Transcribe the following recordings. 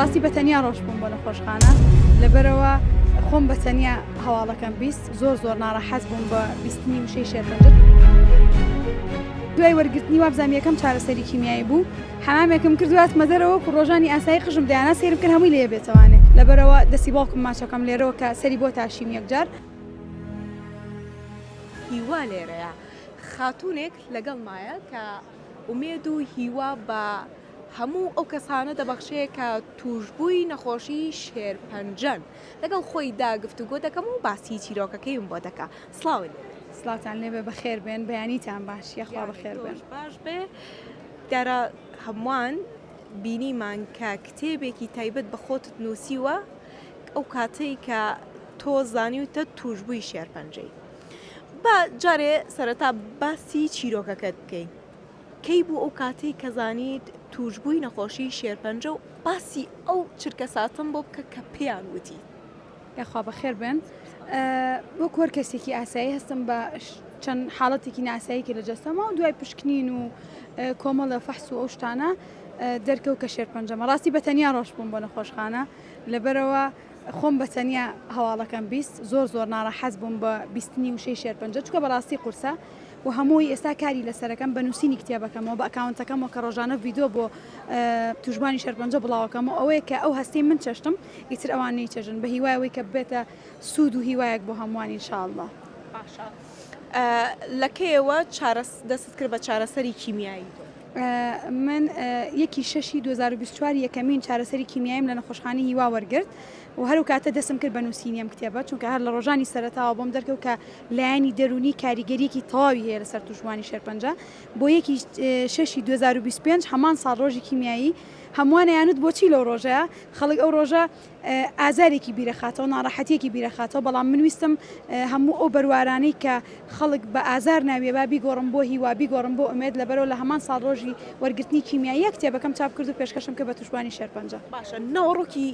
بەڕاستی بە تەنیا ڕۆژ بووم بۆ نەخۆشخانە لەبەرەوە خۆم بە تەنیا هەواڵەکەم بیست زۆر زۆر ناڕەحەز بووم بە بیستنی وشەی شێرپەنجە دوای وەرگرتنی وابزانیەکەم چارەسەری کیمیایی بوو حامێکم کردوات مەدەرەوە و ڕۆژانی ئاسایی قژم دەیانە سێرم کرد هەمووی لێ بێتوانێت لەبەرەوە دەسی باوکم ماچەکەم لێرەوە کە سەری بۆ تاشیم یەکجار هیوا لێرەیە خاتونێک لەگەڵ مایە کە ئومێد و هیوا بە هەموو ئەو کەسانە دەبەخشێ کە تووشبووی نەخۆشی شێرپەنجەن. لەگەڵ خۆیدا گفتوگۆ دەکەم و باسی چیرۆکەکەیم بۆ دەکا. سڵاوت لێبێ. سڵاوتان لێبێ بەخێر بێن بەیانیتان باش یە خوا بەخێر بێن. یاری تۆش باش بێ دیارە هەمووان بینیمان کە کتێبێکی تایبەت بە خۆتت نووسیوە ئەو کاتەی کە تۆ زانیوتە تووشبووی شێرپەنجەی. با جارێ سەرەتا باسی چیرۆکەکەت بکەین کەی بوو ئەو کاتەی کە زانیت تووشببووی نەخۆشی شێرپەنجە و باسی ئەو چرکە ساتم بۆ بکە کە پێیان وتی. یاخوا بەخێر بێن بۆ کۆر کەسێکی ئاسایی هەستم بە چەند حاڵەتێکی ناساییکی لە جەستەما و دوای پشکنین و کۆمەڵە فەحس و ئەو شتانە دەرکەوت کە شێرپەنجەمە ڕاستی بە تەنیا ڕۆژ بووم بۆ نەخۆشخانە لەبەرەوە خۆم بە تەنیا هەواڵەکەم بیست زۆر زۆر ناڕەحەت بووم بە بیستنی وشەی شێرپەنجە چکە بەڕاستی قورسە و هەمووی ئێستا کاری لەسەرەکەم بە نووسینی کتێبەکەمەوە بە ئەکاونتەکەمەوە کە ڕۆژانە ڤیددیو بۆ توژبانی شێرپەنجە بڵاوەکەم و ئەوەیە کە ئەو هەستی من چەشتم ئیتر ئەوان نەیچەژن بە هیوایەوەی کە بێتە سوود و هیوایەک بۆ هەمووانی شاءله لەکەیەوە چارەس دەست کرد بە چارەسەری کیمیایی. من یەکی شەشی دوو هەزار و بیست و چوار یەکەمین چارەسەری کیمیایم لە نەخۆشخانەی هیوا وەرگرت و هەر و کاتە دەسم کرد بە نووسینی ئەم کتێبە چونکە هەر لە ڕۆژانی سەرەتاوە بۆم دەرکەوت کە لایەنی دەروونی کاریگەریەکی تەواوی هەیە لەسەر توشبووانی شێرپەنجە بۆ یەکی شەشی 2025 هەمان ساڵ ڕۆژی کیمیایی هەمووانەیانوت بۆچی لەو ڕۆژەیە خەڵک ئەو ڕۆژە ئازارێکی بیرەخاتەوە، ناڕەحەتیەکی بیرەخاتەوە، بەڵام من ویستم هەموو ئەو بەروارانەی کە خەڵک بە ئازار ناویە با بیگۆڕم بۆ هیوا، بیگۆڕم بۆ ئومێد، لەبەرئەوە لە هەمان ساڵ ڕۆژی وەرگرتنی کیمیاییە کتێبەکەم چاپ کرد و پێشکەشم کرد بە توشبوانی شێرپەنجە. باشە ناوەڕۆکی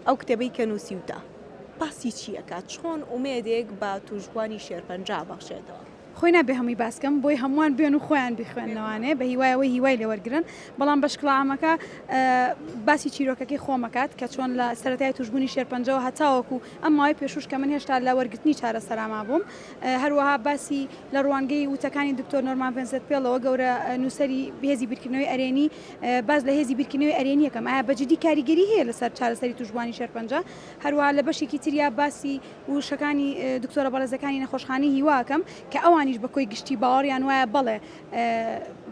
ئەو کتێبەی کە نوسیوتە باسی چی ئەکات؟ چۆن ئومێدێک بە توشبوانی شێرپەنجە ئەبەخشێتەوە؟ خۆی نابێ هەمووی باس کەم بۆی هەمووان بێن و خۆیان بیخوێنەوانێ بە هیوای ئەوەی هیوای لێ وەرگرن بەڵام بەشکڵامەکە باسی چیرۆکەکەی خۆمەکات کە چۆن لە سەرەتای توشببوونی شێرپەنجەوە هەتاوەکو ئەم ماوەی پێشوش کە من هێشتا لە وەرگرتنی چارەسەراما بووم هەروەها باسی لە ڕوانگەی وتەکانی دکتۆر نۆرمان ڤێنسێت پێڵەوە گەورە نووسری هێزی بیرکردنەوەی ئەرێنی باز لە هێزی بیرکردنەوەی ئەرێنیەکەم ئایا بەجددی کاریگەری هەیە لەسەر چارەسەری توشببوانی شێرپەنجە هەروە لە بەشێکی تریا باسی وشەکانی دکتۆرە بەڕێزەکانی نەخۆشخانەی هیوا ئەکەم کە ئەوانیش بە کۆی گشتی باوەڕیان وایە بەڵێ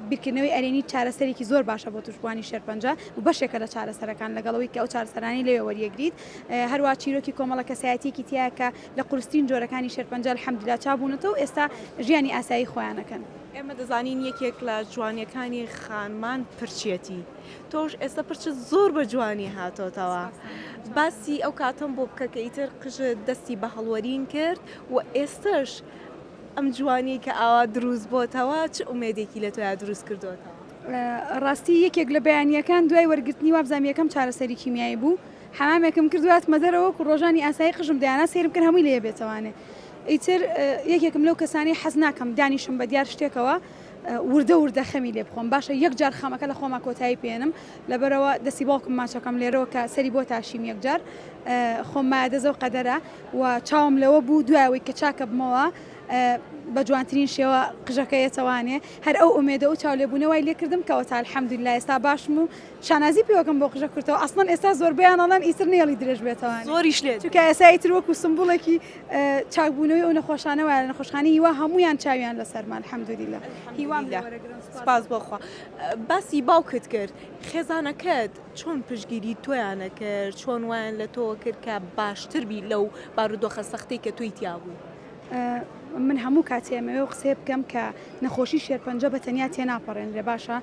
بیرکردنەوەی ئەرێنی چارەسەرێکی زۆر باشە بۆ توشبووانی شێرپەنجە و بەشێکە لە چارەسەرەکان لەگەڵەوەی کە ئەو چارەسەرانی لەوێ وەریەگریت هەروە چیرۆکی کۆمەڵە کەسایەتیەکی تیا کە لە قورسترین جۆرەکانی شێرپەنجە الحەمدللا چابوونەتەوە و ئێستا ژیانی ئاسایی خۆیانەکەن. ئێمە دەزانین یەکێک لە جوانیەکانی خانمان پرچیەتی تۆش ئێستا پرچت زۆر بە جوانی هاتۆتەوە باسی ئەو کاتەم بۆ بکە کە ئیتر قژت دەستی بە هەڵوەرین کرد و ئێستەش ئەم جوانی کە ئاوا دروست بۆتەوە چ ئومێدێکی لە تۆیا دروست کردوتەوە ڕاستی یەکێک لە بەیانیەکان دوای وەرگرتنی وابزانام یەکەم چارەسەری کیمیایی بوو حەمامێکم کرد واتمە دەرەوە و ڕۆژانی ئاسایی قژم دەیانا سێرم کرد هەمووی لێ بێتەوانێ ئیتر یەکێکم لەو کەسانی حەز ناکەم دانیشم بە دیار شتێکەوە وردە وردە خەمی لێ بخۆم باشە یەک جار خەمەکە لە خۆما کۆتایی پێێنم لەبەرەوە دەسی باوکم ماچەکەم لێرەوە کە سەری بۆ تاشیم یەک جار خۆم ما دەزە و قەدەرە و چاوم لەوە بوو دوایەوەی کە چاکە بمەوە بە جوانترین شێوە قژەکە یەتەوانێ هەر ئەو ئومێدە و چاو لێبوونەوەی لێکردم کەەوە تا الحەمدون لا ئێستا باشم و شانازی پێوەکەم بۆ قژە کورتەوە ئەسڵەن ئێستا زۆربیانەڵەن ئیتر نێڵی درێژ بێتەوە زۆریش لێ چکە ئێسایی تر وەکو سمبوڵێکی چاک بوونەوەی ئەو نەخۆشانە وایە لە نەخۆشخانەی هیوا هەموویان چاویان لەسەرمە الحمدللە هیوام لێ وەرە گرن سوپاس سوپاس بۆ خوا باسی باوکت کرد خێزانەکەت چۆن پشتگیری تۆیانە کرد چۆن وایان لە تۆوە کرد کە باشتر بی لەو بارودۆخە سەختەی کە تۆی تیا بوو من هەموو کاتێ ئەمەوێ ئەو قسەیە بکەم کە نەخۆشی شێرپەنجە بە تەنیا تێناپەڕێنرێ باشە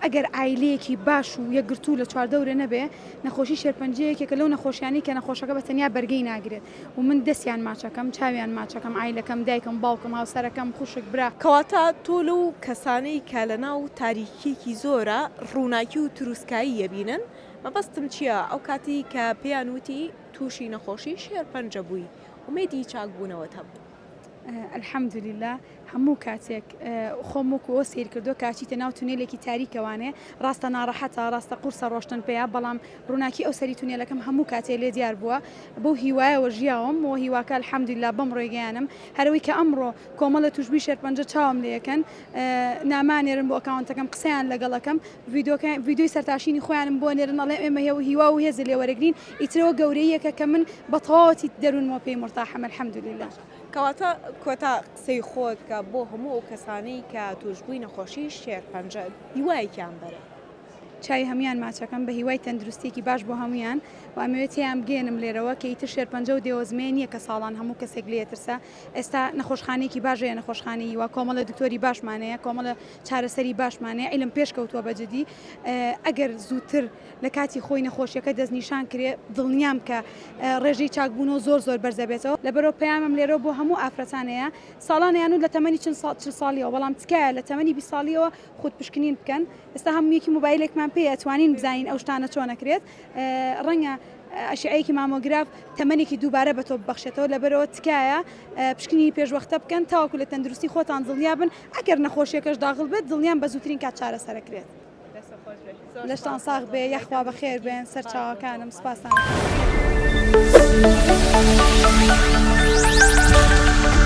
ئەگەر عایلەیەکی باش و یەکگرتوو لە چواردەورێ نەبێ نەخۆشی شێرپەنجە یەکێکە لەو نەخۆشیانی کە نەخۆشەکە بە تەنیا بەرگەی ناگرێت و من دەستیان ماچەکەم چاویان ماچەکەم ئایلەکەم دایکم باوکم هاوسەرەکەم خوشک برا کەواتە تۆ لەو کەسانەی کە لە ناو تاریکیەکی زۆرە ڕووناکی و تروسکایی یەبینن مەبەستم چیە ئەو کاتی کە پێیان وتی توشی نەخۆشی شێرپەنجە بووی ئومێدی چاکبوونەوەت هەبوو. الحمدللە هەموو کاتێک خۆم وەکو ئەوە سیر کردو کاچیتە ناو تونێلێکی تاریکەوانێ ڕاستە ناڕەحەتە ڕاستە قورسە ڕۆشتن پێیا بەڵام ڕووناکی ئەو سەری تونێلەکەم هەموو کاتێ لێ دیار بووە بەو هیوایەوە ژیاوم و هیواکە الحمدللە بەم ڕێگەیانم هەرەوەی کە ئەمڕۆ کۆمەڵە توشبوی شێرپەنجە چاوم لێکەن نامە نێرن بۆ ئەکاونتەکەم قسەیان لەگەڵەکەم ڤیددیوی سەرتاشینی خۆیانم بۆ نێرن ئەڵێ ئێمە هێو هیوا و هێز لێ وەرەگرین ئیترەوە گەورەیەکە کە من بە تەواوەتی دەروونمەوە پێی مرتاحەمە الحمدللە. کەواتە کۆتا قسەی خۆت کە بۆ هەموو ئەو کەسانەی کە تووشبووی نەخۆشی شێرپەنجە هیوایەکیان بەرە. چاوی هەموان ماچەکەم بە هیوای تەندروستێکی باش بۆ هەموان و ئەمەوێت تێیان بگەێنم لێرەوە کە ئیتر شێرپەنجە و دێوەزمێ نییە کە ساڵان هەموو کەسێک لێترسە ئێستا نەخۆشخانەیەکی باش هەیە نەخۆشخانەی هیوا کۆمەڵە دکتۆری باشمان هەیە کۆمەڵە چارەسەری باشمان هەیە عیلم پێش کەوتووە بە جدی ئەگەر زووتر لە کاتی خۆی نەخۆشیەکە دەستنیشان کرێ دڵنیام کە ڕێژەی چاکبوونەوە زۆر زۆر بەرزەبێتەوە لەبەرەوە پەیامم لێرە بۆ هەموو ئافرەتانەیە ساڵانیان و لە تەمەنی چل ساڵیەوە بەڵام تکایە لە تەمەنی بی ساڵیەوە خود پشکنین بکەن ئێستا هەموویەکی موبایلێکمان پێ ئەتوانین بزانین ئەو شتانە چۆنەکرێت ڕەنگە ئەشعەیەکی مامۆگراف تەمەێکی دووبارە بە تۆ بەخشێتەوە لەبەرەوە تکایە پشکنی پێشوەختە بکەن تاوەکو لە تەندروستی خۆتان دڵنیابن ئەگەر نەخۆشیەکەش داغڵ بێت دڵنیان بە زووترین کات چارەسەرەکرێت لەشتان ساغ بێ یاخوا بەخێر بێن سەر چاوەکانم سپاسان.